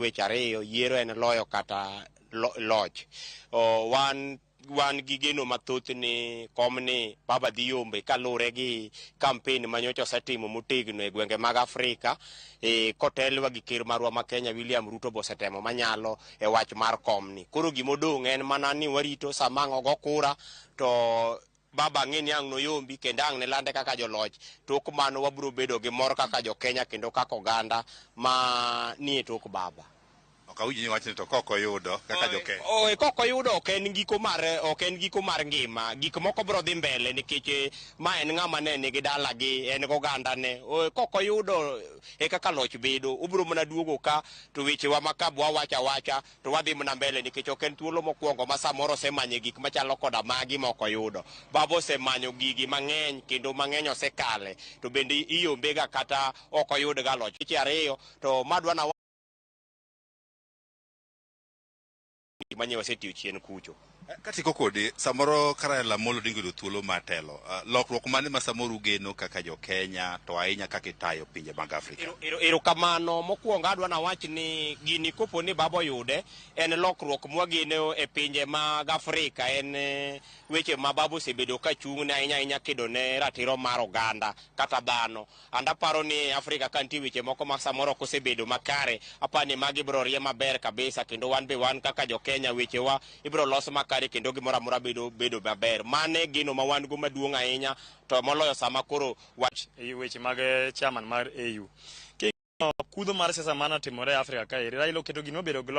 weche ariyo yiero en loyo kata loch wan wan gi geno mathoth ni kom ni baba dhi yombe kaluwore gi kampen ma nyocha osetimo motegno e gwenge mag Afrika e, kotelwa gi ker marwa ma Kenya William Ruto bosetemo manyalo e wach mar kom ni. Koro gimodong' en mana ni warito samang' ogo kura to Baba ang'e ni ang' noyombi kendo ang' nilande kaka joloch. Tok mano wabiro bedo gi mor kaka jo Kenya kendo kaka oganda ma nie tok Baba. Ok awinj ni iwacho ni to kok oyudo kaka jo Kenya. Oe, kok oyudo ok en giko mar ok en giko mar ngima. Gik moko biro dhi mbele nikech eh, ma en ng'ama ne nigi dalagi, en gogandane. Oe, kok oyudo e kaka loch bedo. Obiro mana duogo ka to wechewa ma ka bwawacho awacha to wadhi mna mbele nikech ok en thuolo mokwongo ma samoro osemanye gik machalo koda magi ma ok oyudo. Baba osemanyo gigi mang'eny kendo mang'eny osekale to bende iombega kata ok oyudga loch weche ariyo to madwa na manyo wasetiyo chien kucho. Katieko kodi, samoro ka Raila Amolo Odinga oyudo thuolo mar telo, ah, lokruok mane ma samoro ugeno kaka jo Kenya to ahinya kaka itayo pinje mag Afrika? Ero- ero- Erokamano mokwongo adwa nawach ni gini kopo ni baba oyude en lokruok mwageno e pinje mag Afrika en eh, weche ma baba osebedo ka chung'ne ahinya ahinya kedo ne ratiro mar oganda kata dhano And aparo ni Afrika ka nitie weche moko ma samoro ok osebedo makare, aparo ni magi ibiro rie maber kabisa kendo wan be wan kaka jo Kenya wechewa ibiro los makare kendo gimoro amora bedo bedo maber. Mano e geno ma wan go maduong' ahinya to moloyo sama koro wa e weche mag eh, chairman mar AU. King'iyo kudho mar siasa mane otimore e Afrika kaeri, Raila oketo gima obedo global